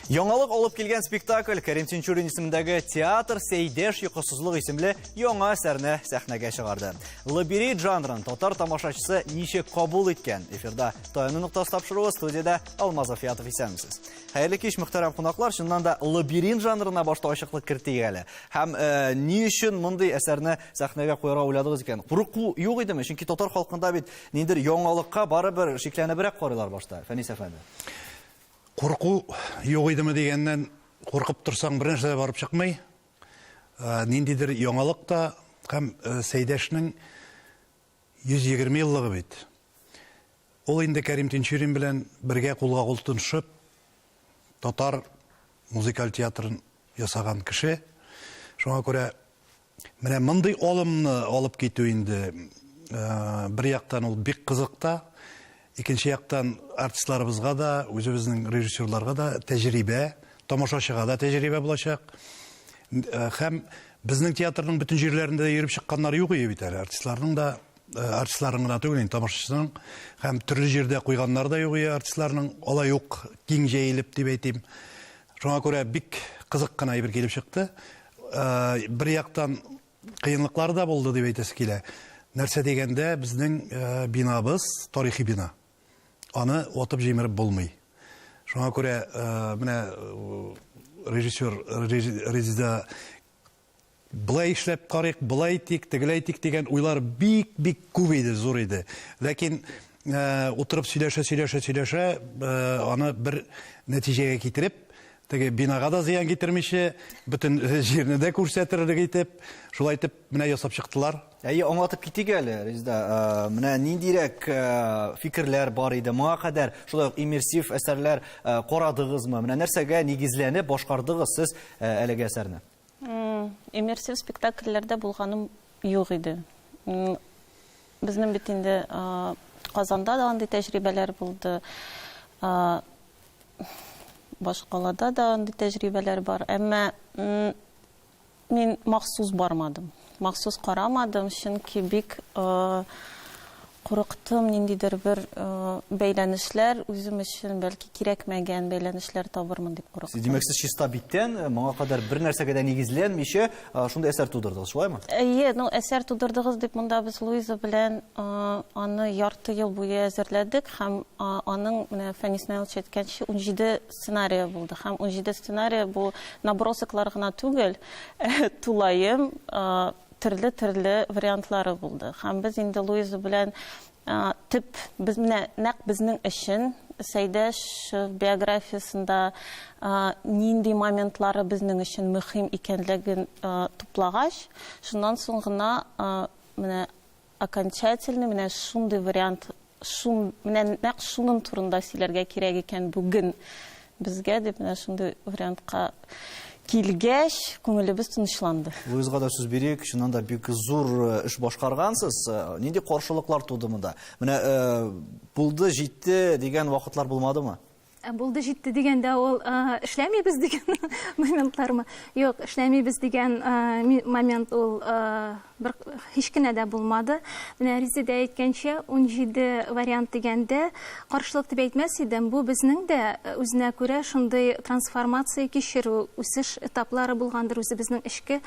Яңалык алып килгән спектакль Кәрим Тинчурин исемендәге театр Сәйдәш йокысызлык исемле яңа әсәрне сәхнәгә чыгарды. Лабирит жанрын татар тамашачысы ничек кабул иткән? Эфирда Таяну ноктасы тапшыруы студияда Алмаз Афиятов исәнмесез. Хәерле кич, мөхтәрәм кунаклар. Чыннан да лабиринт жанрына башта ачыклык кертик әле. Һәм э, ни өчен мондый әсәрне сәхнәгә куярга уйладыгыз икән? Курыку юк идеме? Чөнки татар халкында бит ниндер яңалыкка барыбер шикләнебрәк карыйлар башта, Фәнис әфәнде. Курку юк идеме дигәннән, куркып торсаң бер нәрсә дә барып чыкмый. Э, ниндидер яңалык та һәм э, Сәйдәшнең 120 еллыгы бит. Ул инде Кәрим Тинчурин белән бергә кулга-кул тотынышып, татар музыкаль театрын ясаган кеше. Шуңа күрә менә мондый алымны алып китү инде бер яктан ул бик кызык та, Икенче яктан, артистларыбызга да, үзебезнең режиссерларга да тәҗрибә, тамашачыга да тәҗрибә булачак. Һәм безнең театрның бөтен җирләрендә йөреп чыкканнары юк ие бит әле. Артистларның да, артистларның гына түгел, тамашачының һәм төрле җирдә куйганнары да юк ие артистларның, алай ук киң җәелеп дип әйтим. Шуңа күрә бик кызык кына әйбер килеп чыкты. Бер яктан, кыенлыклары да булды дип әйтәсе килә. Нәрсә дигәндә, безнең э, бинабыз тарихи бина. Аны отып җимереп булмый. Шуңа күрә э, менә э, режиссер Резида былай эшләп карыйк, былай тик, тегеләй тик дигән уйлар бик-бик күп иде, зур иде. Ләкин э, утырып сөйләшә, сөйләшә, сөйләшә, э, аны бер нәтиҗәгә китереп, Теге бинага да зыян китермичә, бөтен җирне дә күрсәтерлек итеп, шулай итеп менә ясап чыктылар. Әйе, аңлатып китик әле, Резеда. Э, менә ниндирәк э, фикерләр бар иде моңа кадәр, шулай ук иммерсив әсәрләр э, карадыгызмы? Менә нәрсәгә нигезләнеп башкардыгыз сез әлеге әсәрне? Иммерсив спектакльләрдә булганым юк иде. Безнең бит инде Казанда да андый тәҗрибәләр булды. Башкалада да андый тәҗрибәләр бар. Әмма мин махсус бармадым. Махсус карамадым, чөнки бик курыктым, ниндидер бер бәйләнешләр, үзем өчен бәлки кирәкмәгән бәйләнешләр табырмын дип курыктым. Димәк, сез чиста биттән, моңа кадәр бер нәрсәгә дә нигезләнмичә, шундый әсәр тудырдыгыз, шулаймы? Әйе, ну әсәр тудырдыгыз дип монда без Луиза белән аны ярты ел буе әзерләдек һәм аның менә Фәнис Наилович әйткәнчә, унҗиде сценарие булды. Һәм унҗиде сценарие бу набросоклар гына түгел, тулаем төрле-төрле вариантлары булды. Һәм без инде Луиза белән төп без менә нәкъ безнең өчен Сәйдәш биографиясендә нинди моментлары безнең өчен мөһим икәнлеген туплагач, шуннан соң гына менә Окончательный менә шундый вариант, шун, менә нәкъ шунын турында сөйләргә кирәк икән бүген безгә дип менә шундый вариантка килгәч, күңелебез тынычланды. Луизга да сүз бирик, чыннан да бик зур э, эш башкаргансыз. Э, нинди каршылыклар туды монда? Менә э, булды, җитте дигән вакытлар булмадымы? Ә булды җитте дигәндә ул эшләмибез дигән моментлармы? Юк, эшләмибез дигән момент ул бер һич кенә дә булмады. Менә Резеда әйткәнчә, 17 вариант дигәндә каршылык дип әйтмәс идем. Бу безнең дә үзенә күрә шундый трансформация кичерү, үсеш этаплары булгандыр үзебезнең эчке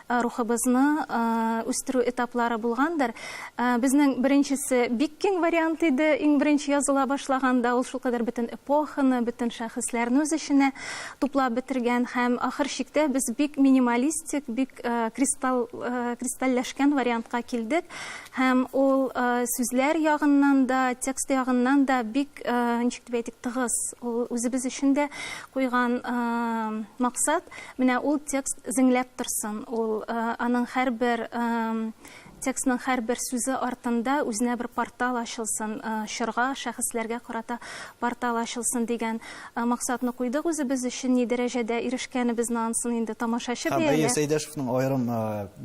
рухыбызны үстерү этаплары булгандыр. Безнең беренчесе бик киң вариант иде, иң беренче языла башлаганда ул шулкадәр бөтен эпоханы, бөтен шәхесләрне үз эченә туплап бетергән һәм ахыр чиктә без бик минималистик, бик кристалл, кристальләшкән вариантка килдек һәм ул сүзләр ягыннан да, текст ягыннан да бик, ничек дип әйтик, тыгыз. Ул үзебез өчен дә куйган максат. Менә ул текст зеңләп торсын, ул, аның һәрбер, текстның һәрбер сүзе артында үзенә бер портал ачылсын, чорга, шәхесләргә карата портал ачылсын дигән максатны куйдык үзебез өчен. Ни дәрәҗәдә ирешкәнебезне ансын инде тамашачы бәяләр. Әйе, Сәйдәшевның аерым,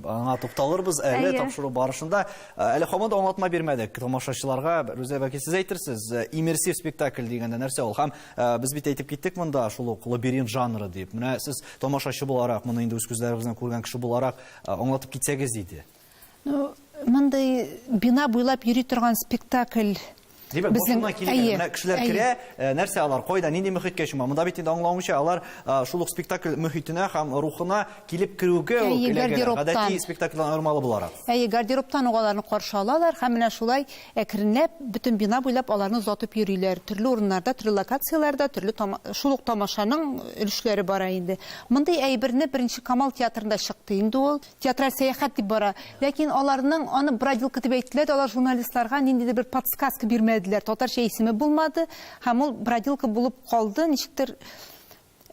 аңа тукталырбыз әле тапшыру барышында. Әле һаман да аңлатма бирмәдек тамашачыларга. Рүзәл әбәкәй, сез әйтерсез, иммерсив спектакль дигәндә нәрсә ул? Һәм Без бит әйтеп киттек монда шул ук лабиринт жанры дип. Менә сез тамашачы буларак, моны инде үз күзләрегез белән күргән кеше буларак аңлатып китсәгез иде. Ну, мондый бина буйлап йөри торган спектакль Димәк, башына килгән менә кешеләр керә, нәрсә алар, кайда, нинди мөхиткә чума? Монда бит инде аңлавымча, алар шул ук спектакль мөхитенә һәм рухына килеп керүгә үк эләгәләр. Гадәти спектакльдән аермалы буларак. Әйе, гардеробтан ук аларны каршы алалар һәм менә шулай Әкренләп бөтен бина буйлап аларны озатып йөриләр. Төрле урыннарда, төрле локацияләрдә төрле шул ук тамашаның өлешләре бара инде. Мондый әйберне Беренче Камал театрында чыкты инде ул. Театраль сәяхәт дип бара. Ләкин аларның аны бродилка дип әйттеләр дә, алар журналистларга ниндидер бер подсказка бирмәделәр. Татарча исеме булмады һәм ул бродилка булып калды. Ничектер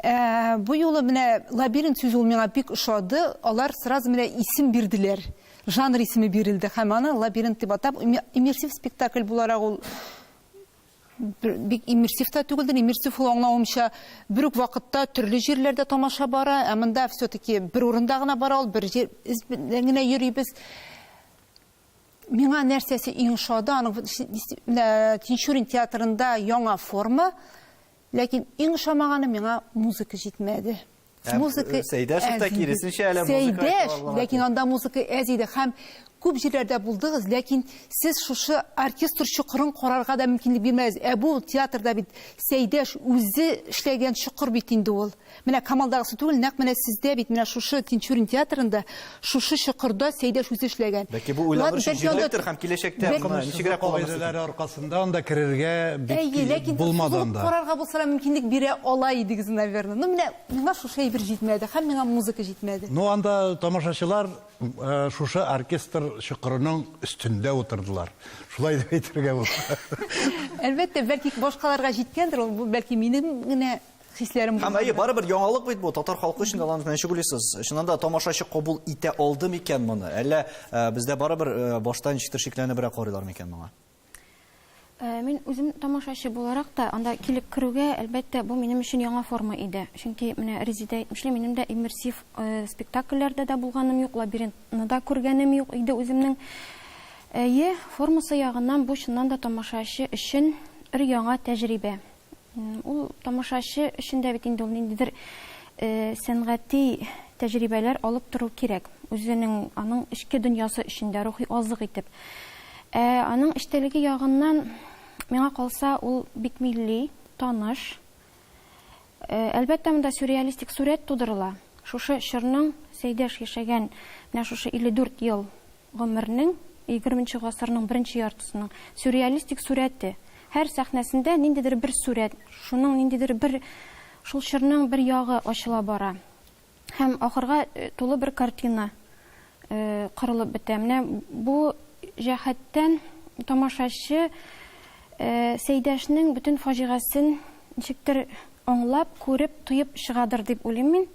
Ә, бу юлы менә лабиринт сүзе ул миңа бик ошады. Алар сразу менә исем бирделәр. Жанр исеме бирелде һәм аны лабиринт дип атап, иммерсив спектакль буларак ул бик иммерсив та түгелдер. Иммерсив ул аңлавымча бер үк вакытта төрле җирләрдә тамаша бара, ә монда все-таки бер урында гына бара ул, бер җир генә йөрибез. Миңа нәрсәсе иң ошады, аның Тинчурин театрында яңа форма, Ләкин иң ошамаганы миңа музыка җитмәде. Ә, музыка э, Сәйдәш та киресенчә әле музыка Сәйдәш, ләкин анда музыка әз иде һәм күп җирләрдә булдыгыз, ләкин сез шушы оркестр чокырын карарга да мөмкинлек бирмәдегез. Ә бу театрда бит Сәйдәш үзе эшләгән чокыр бит инде ул. Менә Камалдагысы түгел, нәкъ менә сездә бит, менә шушы Тинчурин театрында, шушы чокырда Сәйдәш үзе эшләгән. Бәлки бу уйланыр өчен җирлектер һәм киләчәктә моны ничегрәк кулланырсыз? Кагыйдәләр аркасында анда керергә бик кирәк булмады анда. Әйе, ләкин карарга булсалар мөмкинлек бирә ала идегез, наверное. Ну, менә миңа шушы әйбер җитмәде һәм миңа музыка җитмәде. Ну, анда тамашачылар шушы оркестр чокырының өстендә утырдылар. Шулай дип әйтергә була. Әлбәттә, бәлки башкаларга җиткәндер ул, бу бәлки минем генә. Хисләрем Һәм әйе, барыбер яңалык бит бу, татар халкы өчен алланы белән чүгүлисез. Чыннан да тамашачы кабул итә алды микән моны? Әллә э, бездә барыбер э, баштан ничектер шикләнебрәк карыйлар микән моңа? Э, мин үзем тамашачы буларак та анда килеп керүгә, әлбәттә, бу минем өчен яңа форма иде. Чөнки менә Резидә әйтмешли, минем дә иммерсив э, спектакльләрдә дә булганым юк, лабиринтны да күргәнем юк иде үземнең. Әйе, формасы ягыннан бу чыннан да тамашачы өчен бер яңа тәҗрибә. Ул тамашачы өчен дә бит инде ул ниндидер сәнгати тәҗрибәләр алып тору кирәк, үзенең аның эчке дөньясы өчен дә рухи азык итеп. Ә аның эчтәлеге ягыннан, миңа калса, ул бик милли, таныш. Әлбәттә, монда сюрреалистик сурәт тудырыла. Шушы чорның Сәйдәш яшәгән менә шушы 54 ел гомернең, егерменче гасырның беренче яртысының сюрреалистик сурәте. Һәр сәхнәсендә ниндидер бер сурәт, шуның ниндидер бер, шул чорның бер ягы ачыла бара һәм ахырга тулы бер картина корылып бетә. Менә бу җәһәттән тамашачы Сәйдәшнең бөтен фаҗигасен ничектер аңлап, күреп, тоеп чыгадыр дип уйлыйм мин.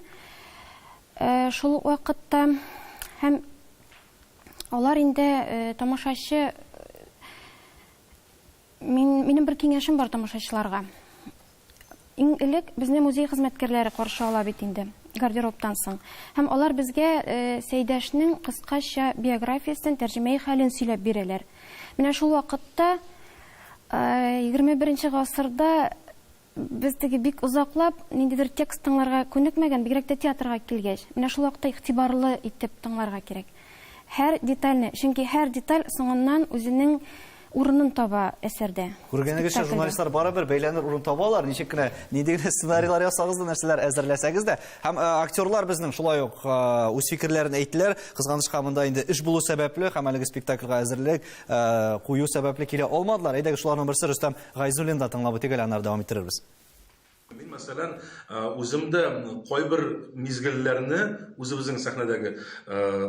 Шул ук вакытта һәм алар инде тамашачы мин минем бер киңәшем бар тамашачыларга. Иң элек безне музей хезмәткәрләре каршы ала бит инде, гардеробтан соң. Һәм алар безгә Сәйдәшнең кыскача биографиясен, тәрҗемәи хәлен сөйләп бирәләр. Менә шул вакытта, егерме беренче гасырда Без теге бик озаклап ниндидер текст тыңларга күнекмәгән, бигрәк тә театрга килгәч. Менә шул вакытта игътибарлы итеп тыңларга кирәк. Һәр детальне, чөнки һәр деталь соңыннан үзенең урынын таба әсәрдә. Күргәнегезчә, журналистлар барыбер бәйләнер урын табалар, ничек кенә, нинди генә сценарийлар ясагыз да, нәрсәләр әзерләсәгез дә. Һәм актерлар безнең шулай ук үз фикерләрен әйттеләр. Кызганычка, монда инде эш булу сәбәпле һәм әлеге спектакльгә әзерлек кую сәбәпле килә алмадылар. Әйдәгез, шуларның берсе Рөстәм Гайзуллин да тыңлап үтик әле, аннары дәвам иттерербез. Мин, мәсәлән, үзем дә кайбер мизгелләрне үзебезнең сәхнәдәге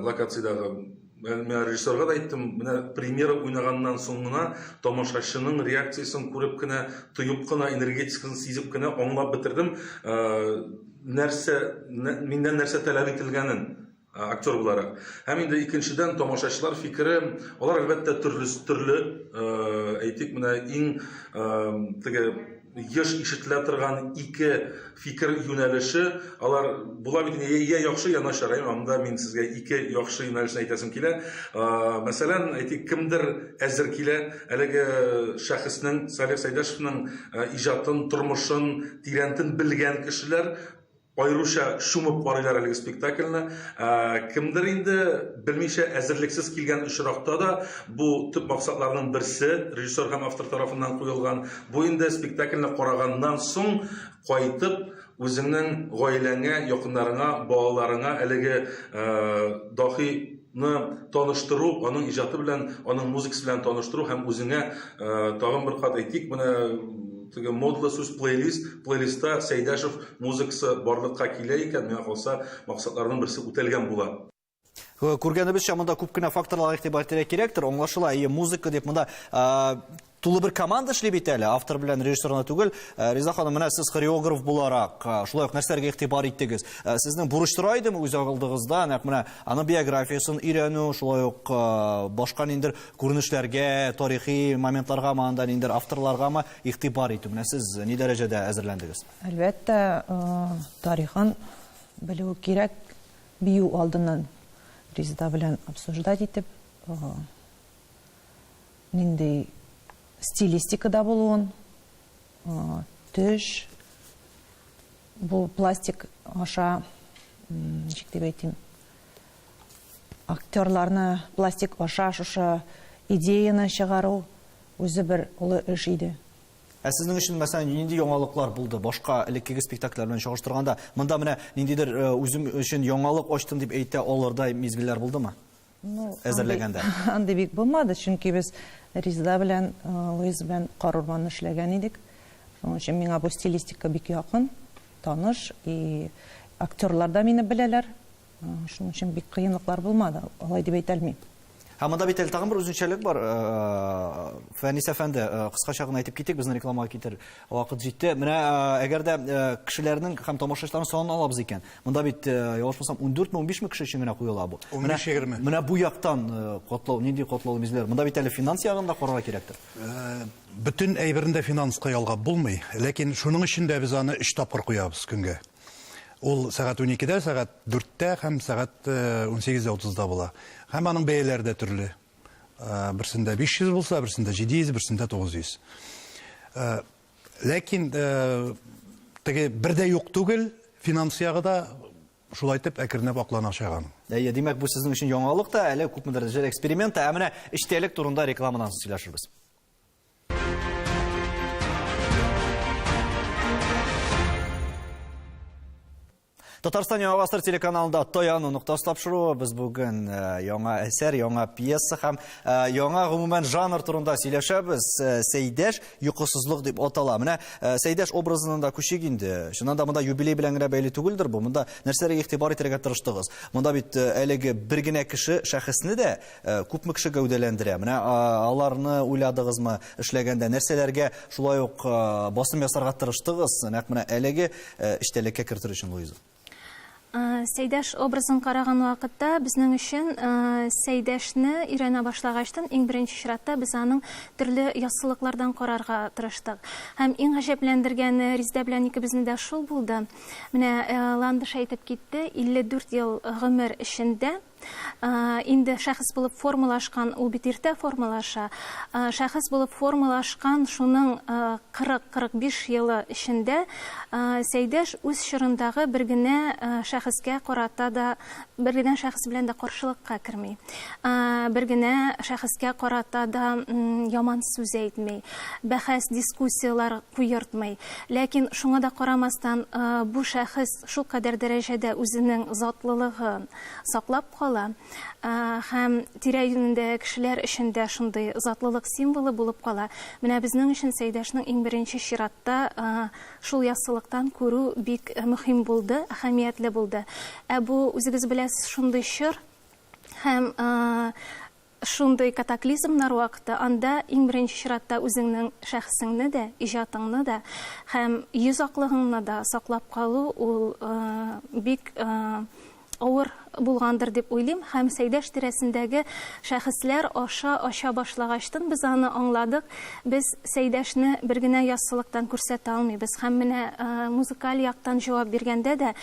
локациядәге Менә режиссерга да әйттем, менә премьера уйнаганнан соң гына тамашачының реакциясен күреп кенә, тоеп кына, энергетикасын сизеп кенә аңлап бетердем, нәрсә, миннән нәрсә таләп ителгәнен. Ә, актер буларак. Һәм инде икенчедән, тамашачылар фикере, алар әлбәттә төрле, төрле, ә, әйтик, менә иң, ә, теге еш ишетелә торган ике фикер юнәлеше, алар була бит инде, йә яхшы, йә начар, ә, анда мин сезгә ике яхшы юнәлешне әйтәсем килә. Ә, мәсәлән, әйтик, кемдер әзер килә, әлеге шәхеснең, Салих Сәйдәшевнең, ә, иҗатын, тормышын тирәнтен белгән кешеләр, Аеруча чумып карыйлар әлеге спектакльне. Ә, кемдер инде белмичә әзерлексез килгән очракта да бу төп максатларның берсе режиссер һәм автор тарафыннан куелган. Бу инде спектакльне караганнан соң кайтып үзеңнең гаиләңә, якыннарыңа, балаларыңа әлеге ә, дахи ны таныштыру, аның иҗаты белән, аның музыкасы белән таныштыру һәм үзеңә тагын бер кат әйтик, менә теге модлы сүз плейлист, плейлистта Сәйдәшев музыкасы барлыкка килә икән, миңа калса, максатларның берсе үтәлгән була. Күргәнебезчә, монда күп кенә факторлар игътибар итәргә кирәктер. Аңлашыла, әйе, музыка дип монда Тулы бер команда эшли бит әле, автор белән режиссер гына түгел. Э, Риза ханым, менә сез хореограф буларак, э, шулай ук нәрсәләргә игътибар иттегез? Э, сезнең бурыч тора идеме үз алдыгызда, нәкъ менә аның биографиясын өйрәнү, шулай ук башка ниндер күренешләргә, тарихи моментларга, анда ниндер авторларга ма игътибар итү? Менә сез ни дәрәҗәдә әзерләндегез? Әлбәттә, тарихын белү кирәк, бию алдыннан Ризда белән обсуждать итеп, нинди стилистикада булуын, төш, бу пластик аша, ничек дип әйтим, актерларны пластик аша шушы идеяны чыгару үзе бер олы эш иде. Ә сезнең өчен, мәсәлән, нинди яңалыклар булды башка элеккеге спектакльләр белән чагыштырганда? Монда менә ниндидер э, үзем өчен яңалык ачтым дип әйтә алырдай мизгелләр булдымы? әзерләгәндә? Андый бик булмады, чөнки без Резеда белән, Луиза белән Кар урманын эшләгән идек. Шуның өчен миңа бу стилистика бик якын, таныш и актерлар да мине беләләр. Шуның өчен бик кыенлыклар булмады, алай дип әйтә алмыйм. Һәм монда бит әле тагын бер үзенчәлек бар, Фәнис әфәнде, кыскача гына әйтеп китик, безне рекламага китер Вакыт җитте. Менә әгәр дә кешеләрнең һәм тамашачыларның санын алабыз икән, монда бит ялгышмасам 14 мең 15 мең кеше өчен генә куела бу. Менә бу яктан котлау, нинди котлау мизләр? Монда бит әле финанс ягын да карарга кирәктер. Бөтен әйберне дә финанска ялгап булмый, ләкин шуның өчен дә без аны өч тапкыр куябыз көнгә. Ул сәгать уникедә, сәгать дүрттә һәм сәгать унсигез дә утызда була. Һәм аның бәяләре дә төрле. Берсендә 500 булса, берсендә 700, берсендә 900. Ләкин теге бердә юк түгел, финанс ягы да шулай итеп әкренләп аклана чыга. Әйе, димәк, бу сезнең өчен яңалык та, әле күпмедер дәрәҗәдә эксперимент та. Ә менә эчтәлек турында рекламадан соң сөйләшербез. Татарстан яңа гасыр телеканалында Таяну ноктасы тапшыруы. Без бүген э, яңа әсәр, яңа пьеса һәм э, яңа гомумән жанр турында сөйләшәбез. Э, Сәйдәш йокысызлык дип атала. Менә Сәйдәш образынан да күчик инде. Чыннан да монда юбилей белән генә бәйле түгелдер бу. Монда нәрсәләргә игътибар итәргә тырыштыгыз? Монда бит әлеге бер генә кеше шәхесне дә Күпме кеше гәүдәләндерә? Менә аларны уйладыгызмы? Эшләгәндә нәрсәләргә шулай ук басым ясарга тырыштыгыз? Нәкъ менә әлеге эчтәлеккә кертер өчен, Луиза. Сәйдәш образын караган вакытта безнең өчен Сәйдәшне өйрәнә башлагачтын иң беренче чиратта без аның төрле яссылыклардан карарга тырыштык. Һәм иң гаҗәпләндергәне Риздә белән икебезне дә шул булды. Менә Ландыш әйтеп китте, 54 ел гомер эчендә, инде шәхес булып формалашкан, ул бит иртә формалаша. Шәхес булып формалашкан шуның 40-45 елы эчендә Сәйдәш үз чорындагы бер генә шәхескә карата да, бер генә шәхес белән дә каршылыкка керми. Бер генә шәхескә карата да яман сүз әйтми, бәхәс, дискуссияләр куертмый. Ләкин шуңа да карамастан, бу шәхес шул кадәр дәрәҗәдә үзенең затлылыгын, саклап кала һәм тирә-юнендәге кешеләр өчен дә шундый затлылык символы булып кала. Менә безнең өчен Сәйдәшнең иң беренче чиратта шул яссылыктан күрү бик мөһим булды, әһәмиятле булды. Ә бу, үзегез беләсез, шундый чор һәм Шундый катаклизмнар вакыты анда иң беренче чиратта үзеңнең шәхесеңне дә, иҗатыңны да һәм йөз аклыгыңны да саклап калу ул бик авыр булгандыр дип уйлыйм һәм Сәйдәш тирәсендәге шәхесләр аша ача башлагачтын без аны аңладык, без Сәйдәшне бер генә яссылыктан күрсәтә алмыйбыз һәм менә музыкаль яктан җавап биргәндә дә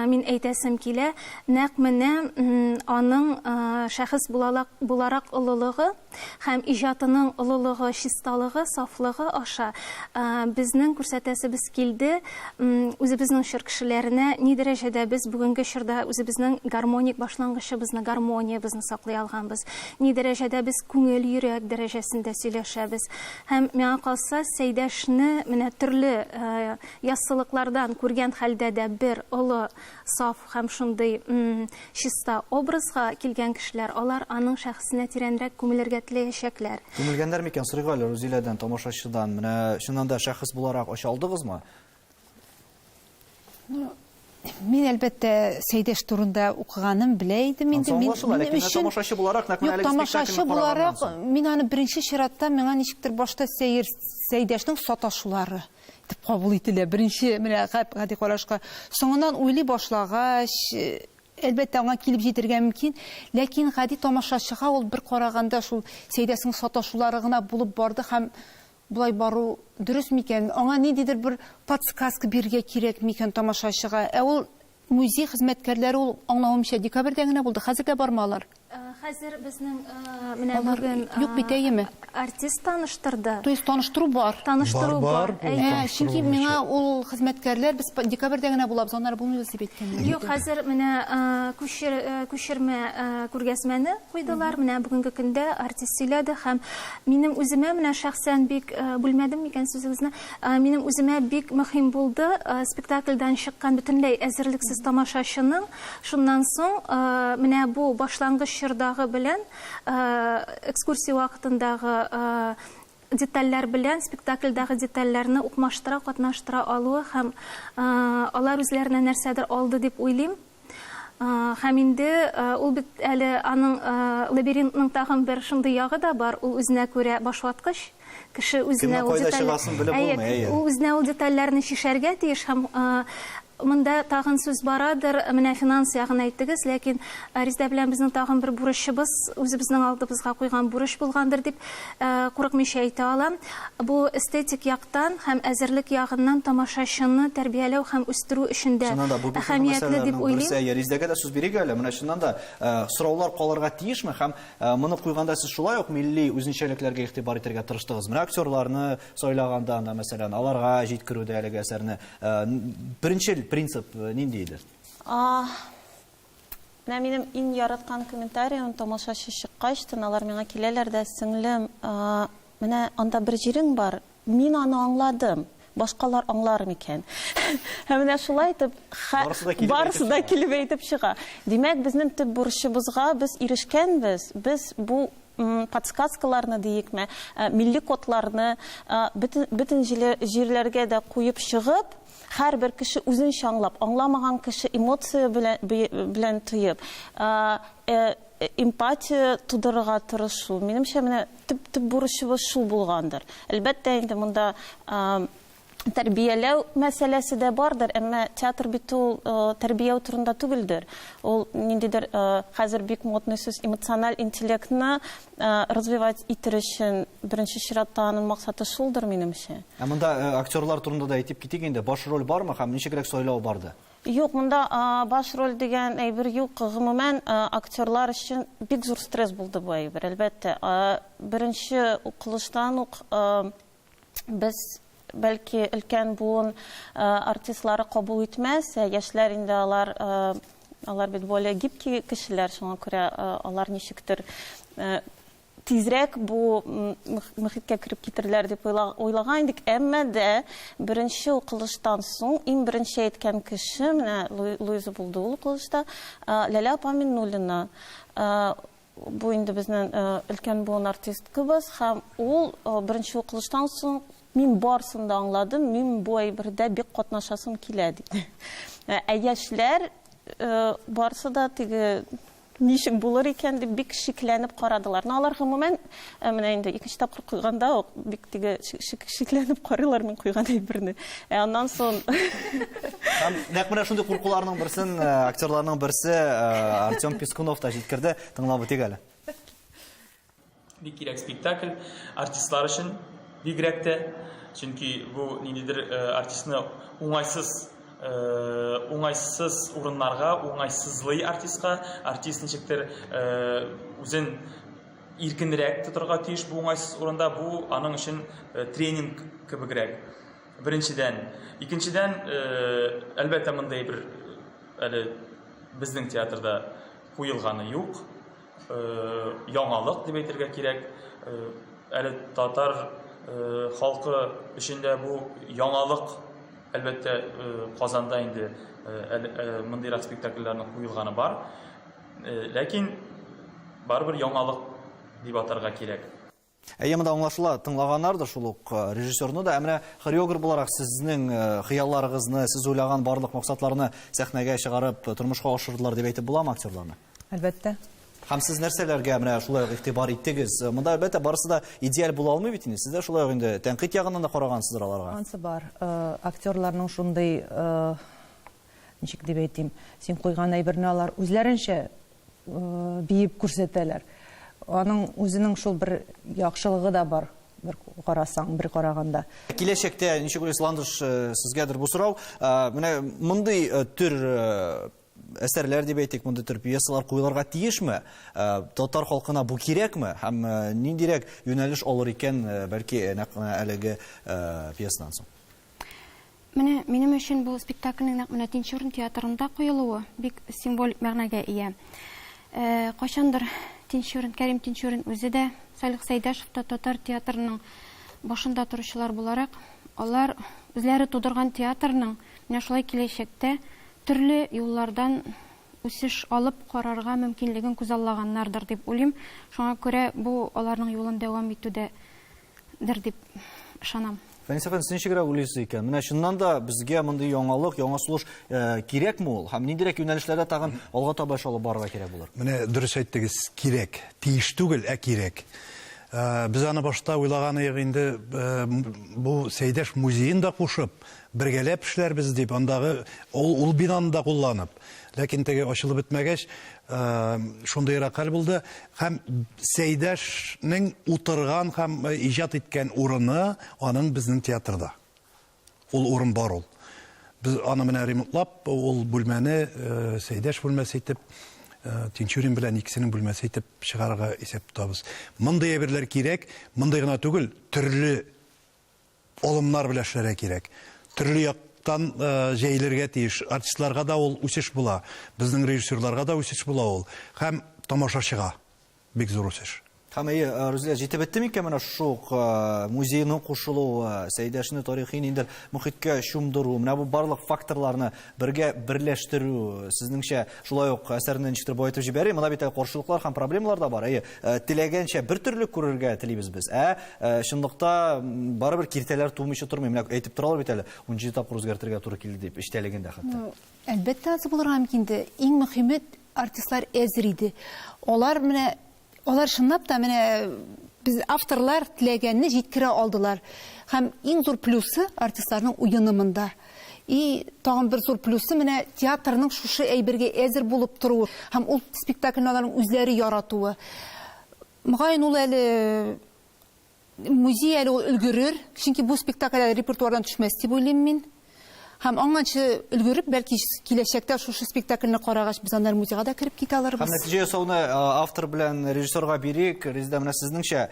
мин әйтәсем килә, Нәкъ менә аның шәхес буларак олылыгы һәм иҗатының олылыгы, чисталыгы, сафлыгы аша безнең күрсәтәсебез килде, үзебезнең чор кешеләренә ни дәрәҗәдә без бүгенге чорда үзебезнең гармоник башлангычыбызны, гармониябезне саклый алганбыз, ни дәрәҗәдә без күңел, йөрәк дәрәҗәсендә сөйләшәбез. Һәм, миңа калса, Сәйдәшне менә төрле яссылыклардан күргән хәлдә дә бер олы Саф һәм шундый, м-м, чиста образга килгән кешеләр, алар аның шәхесенә тирәнрәк күмелергә теләячәкләр. Күмелгәннәр микән, сорыйк әле Рузиләдән, тамашачыдан, менә чыннан да шәхес буларак оча алдыгызмы? Ну, мин, әлбәттә, Сәйдәш турында укыганым, белә идем инде. Ансы аңлашыла, ләкин менә тамашачы буларак, нәкъ менә әлеге спектакльне караганнан соң. Юк, тамашачы буларак, мин аны беренче чиратта, миңа ничектер башта Сәер, Сәйдәшнең саташулары. итеп кабул ителә. Беренче мөрәгать гади карашка. Соңыннан уйлый башлагач, әлбәттә, аңа килеп җитергә мөмкин, ләкин гади тамашачыга ул бер караганда шул Сәйдәсенең саташулары гына булып барды һәм болай бару дөрес микән? Аңа ниндидер бер подсказка бирергә кирәк микән тамашачыга? Ә ул Музей хезмәткәрләре ул, аңлавымча, декабрьдә генә булды, хәзер дә бармы алар? Хәзер безнең менә бүген артист таныштырды. То есть таныштыру бар? Таныштыру бар. Чөнки миңа ул хезмәткәрләр без декабрьдә генә булабыз, аннары булмыйбыз дип әйткәннәр. Юк, хәзер менә күчермә күргәзмәне куйдылар. Менә бүгенге көндә артист сөйләде һәм минем үземә менә шәхсән бик бүлмәдем микән сүзегезне? Минем үземә бик мөһим булды спектакльдән чыккан бөтенләй әзерлексез тамашачының шуннан соң менә бу башлангыч чордагы белән экскурсия вакытындагы детальләр белән спектакльдәге детальләрне укмаштыра, катнаштыра алуы һәм алар үзләренә нәрсәдер алды дип уйлыйм. Һәм инде ул бит әле аның лабиринтның тагын бер шундый ягы да бар, ул үзенә күрә башваткыч. Кеше үзенә ул деталь... Ул үзенә ул детальләрне чишәргә тиеш һәм монда тагын сүз барадыр, менә финанс ягын әйттегез, ләкин Резда белән безнең тагын бер бурычыбыз, үзебезнең алдыбызга куйган бурыч булгандыр дип курыкмыйча әйтә алам. Бу эстетик яктан һәм әзерлек ягыннан тамашачыны тәрбияләү һәм үстерү өчен дә Чыннан да, бу бик мөһим әһәмиятле дип мәсьәләләрнең уйлыйм. берсе. Әйе, Резидәгә дә сүз бирик әле. Менә чыннан да, сораулар калырга тиешме? Һәм моны куйганда сез шулай ук милли үзенчәлекләргә игътибар итәргә тырыштыгыз. Менә актерларны сайлаганда анда, мәсәлән, аларга җиткерүдә әлеге әсәрне беренчел принцип нинди иде? Менә минем иң яраткан комментарием, тамашачы чыккач, тын алар миңа киләләр дә, Сеңлем, менә анда бер җирең бар, мин аны аңладым, башкалар аңлар микән? Һәм менә шулай итеп, барысы да килеп әйтеп чыга. Димәк, безнең төп бурычыбызга без ирешкәнбез, без бу подсказкаларны диекме, милли кодларны бөтен җирләргә дә куеп чыгып, Һәрбер кеше үзен чаңлап, аңламаган кеше эмоция белән тоеп, эмпатия тудырырга тырышу. Минемчә, менә төп бурычыбыз шул булгандыр. Әлбәттә, инде монда тәрбияләү мәсьәләсе дә бардыр, әмма театр бит ул тәрбияү турында түгелдер. Ул ниндидер хәзер бик модный сүз эмоциональ интеллектны развивать итер өчен беренче чиратта аның максаты шулдыр, минемчә. Ә монда э, актерлар турында да әйтеп китик инде. Баш роль бармы һәм ничегрәк сайлау барды? Юк, монда баш роль дигән әйбер юк. Гомумән, актерлар өчен бик зур стресс булды бу әйбер, әлбәттә. Беренче укылыштан ук без бәлки өлкән буын артистлары кабул итмәс, ә яшьләр инде алар алар бит более гибкий кешеләр, шуңа күрә алар ничектер тизрәк бу мөхиткә кереп китерләр дип уйлаган идек, әмма дә беренче укылыштан соң иң беренче әйткән кеше менә Луиза булды ул укылышта, Ләлә апа Миннуллина. Бу инде безнен өлкән буын артисткыбыз һәм ул беренче укылыштан соң Мин барсын да аңладым, мин бу әйбердә бик катнашасым килә, диде. Ә яшьләр барсы да теге ничек булыр икән дип бик шикләнеп карадылар. Но алар гомумән Ә менә инде икенче тапкыр куйганда ук бик теге шикләнеп карыйлар мин куйган әйберне. Ә аннан сон Һәм нәкъ менә шундый куркуларның берсен э, актерларның берсе э, Артем Пискунов та җиткерде. Тыңлап үтик әле. Бик кирәк спектакль артистлар өчен бигрәк тә, чөнки бу ниндидер э, артистны уңайсыз Э, уңайсыз урыннарга уңайсызлый артистка артист ничектер э, үзен иркенрәк тотырга тиеш бу уңайсыз урында, бу аның өчен э, тренинг кебегрәк. Беренчедән, икенчедән, э, әлбәттә, мондый бер э, әле безнең театрда куелганы юк. Яңалык дип әйтергә кирәк. Әле татар халкы өчен дә бу яңалык әлбәттә Казанда инде мондыйрак спектакльләрнең куелганы бар. Ләкин барыбер яңалык дип атарга кирәк. Әйе, монда аңлашыла, тыңлаганнар да шул ук э, режиссерны да. Ә менә хореограф буларак сезнең э, хыялларыгызны, сез уйлаган барлык максатларны сәхнәгә чыгарып, э, тормышка ашырдылар дип әйтеп буламы актерларны? Әлбәттә. Һәм сез нәрсәләргә менә шулай ук игътибар иттегез? Монда әлбәттә барысы да идеаль була алмый бит инде. Сез дә шулай ук инде тәнкыйть ягыннан да карагансыздыр аларга. Ансы бар. Актерларның шундый Ничек дип әйтим, син куйган әйберне алар үзләренчә биеп күрсәтәләр. Аның үзенең шул бер яхшылыгы да бар, бер карасаң, бер караганда. Киләчәктә ничек уйлыйсыз, Ландыш, сезгәдер бу сорау, менә мондый төр әсәрләр дип әйтик, мондый төр пьесалар куелырга тиешме? Татар халкына бу кирәкме? Һәм ниндирәк юнәлеш алыр икән, бәлки, нәкъ менә әлеге пьесадан соң? Менә минем өчен бу спектакльнең нәкъ менә Тинчурин театрында куелуы бик символик мәгънәгә ия. Кайчандыр Тинчурин, Кәрим Тинчурин үзе дә, Салих Сәйдәшев та татар театрының башында торучылар буларак, алар үзләре тудырган театрның менә шулай киләчәктә төрле юллардан үсеш алып карарга мөмкинлеген күзаллаганнардыр дип уйлыйм. Шуңа күрә бу аларның юлын дәвам итүдә дер дип ышанам. Фәнис әфәнде, сез ничегрәк уйлыйсыз икән? Менә чыннан да безгә мондый яңалык, яңа сулыш э, кирәкме ул? Һәм ниндирәк юнәлешләрдә тагын алга таба эш алып барырга кирәк булыр? Менә дөрес әйттегез, кирәк. Тиеш түгел, ә кирәк. Э, без аны башта уйлаган идек инде, э, бу Сәйдәш музеен да кушып, бергәләп эшләрбез дип, андагы ул, ул бинаны да кулланып. Ләкин теге ачылып бетмәгәч, шундыйрак хәл булды. Һәм Сәйдәшнең утырган һәм иҗат иткән урыны аның безнең театрда. Ул урын бар ул. Без аны менә ремонтлап, ул бүлмәне Сәйдәш бүлмәсе итеп, Тинчурин белән икесенең бүлмәсе итеп чыгарырга исәп тотабыз. Мондый әйберләр кирәк, мондый гына түгел, төрле Алымнар белән эшләргә кирәк. Төрле яктан җәелергә тиеш. Артистларга да ул үсеш була. Безнең режиссерларга да үсеш була ул. Һәм тамашачыга бик зур үсеш. Һәм, әйе, Рузилә, җитеп бетте микән менә шушы ук музейның кушылуы, Сәйдәшне тарихи ниндидер мохиткә чумдыру, менә бу барлык факторларны? Бергә берләштерү, сезнеңчә, шулай ук әсәрне ничектер баетып җибәри. Монда бит әле каршылыклар һәм проблемалар да бар. Әйе, э, теләгәнчә бер төрле күрергә телибез без. Ә э, чынлыкта барыбер киртәләр тумыйча тормый. Менә әйтеп торалар бит әле, 17 тапкыр үзгәртергә туры килде дип, эчтәлеген дә хәтта. Әлбәттә, аз булырга мөмкин иде. Иң мөһиме, артистлар әзер иде. Алар менә Алар чынлап та менә без авторлар теләгәнне җиткерә алдылар. Һәм иң зур плюсы артистларның уены монда. И тагын бер зур плюсы менә театрның шушы әйбергә әзер булып торуы һәм ул спектакльне аларның үзләре яратуы. Мөгаен ул әле Музей әле ул өлгерер, чөнки бу спектакль әле репертуардан төшмәс дип уйлыйм мин. Һәм аңанчы өлгереп, бәлки киләчәктә шушы спектакльне карагач, без аннары музейга да кереп китә алырбыз. Һәм нәтиҗә ясауны автор белән режиссерга бирик. Резеда, менә сезнеңчә,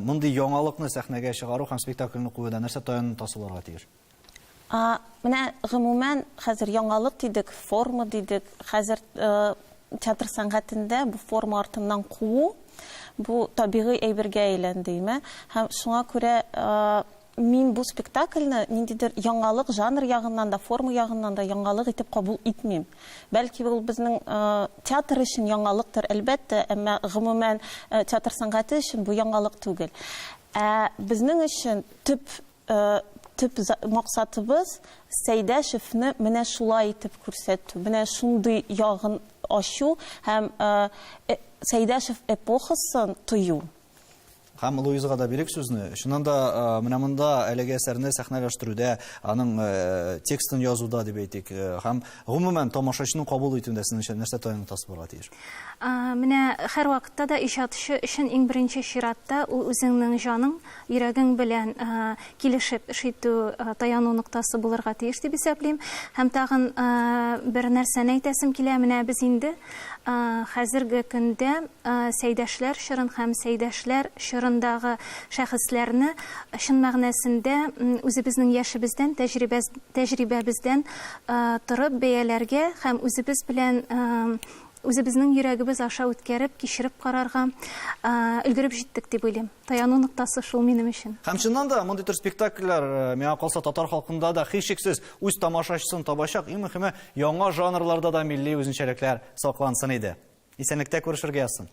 мондый яңалыкны сәхнәгә чыгару һәм спектакльне куюда нәрсә таян тасаларга тиеш? А, менә гомумән, хәзер яңалык дидек, форма дидек, хәзер театр сәнгатендә бу форма артыннан куу, бу табигый әйбергә әйләнде, име? Һәм шуңа күрә мин бу спектакльне ниндидер яңалык жанр ягыннан да, форма ягыннан да яңалык итеп кабул итмим. Бәлки ул безнең театр өчен яңалыктыр, әлбәттә, әмма гомумән театр сәнгате өчен бу яңалык түгел. Ә безнең өчен төп Төп максатыбыз, Сәйдәшевне менә шулай итеп күрсәтү, менә шундый ягын ачу һәм Сәйдәшев эпохасын тою. Һәм Луизага да бирик сүзне. Чыннан да, менә монда әлеге әсәрне сәхнәләштерүдә, аның текстын язуда дип әйтик, һәм гомумән тамашачының кабул итүендә сез нәрсә таяныч булырга тиеш? Менә һәрвакытта да иҗатчы өчен иң беренче чиратта ул үзеңнең җаның, йөрәгең белән килешеп эш итү таяну ноктасы булырга тиеш дип исәплим. Һәм тагын бер нәрсәне әйтәсем килә, менә без инде хәзерге көндә Сәйдәшләр чорын һәм Сәйдәшләр чорындагы шәхесләрне чын мәгънәсендә үзебезнең яшебездән, тәҗрибәбездән торып бәяләргә һәм үзебез белән Үзебезнең йөрәгебез аша үткәреп, кичереп карарга өлгереп җиттек дип уйлыйм. Таяну ноктасы шул минем өчен. Һәм чыннан да, мондый төр спектакльләр, миңа калса, татар халкында да, һичшиксез, үз тамашачысын табачак. Иң мөхиме, яңа жанрларда да милли үзенчәлекләр саклансын иде. Исәнлектә күрешергә язсын.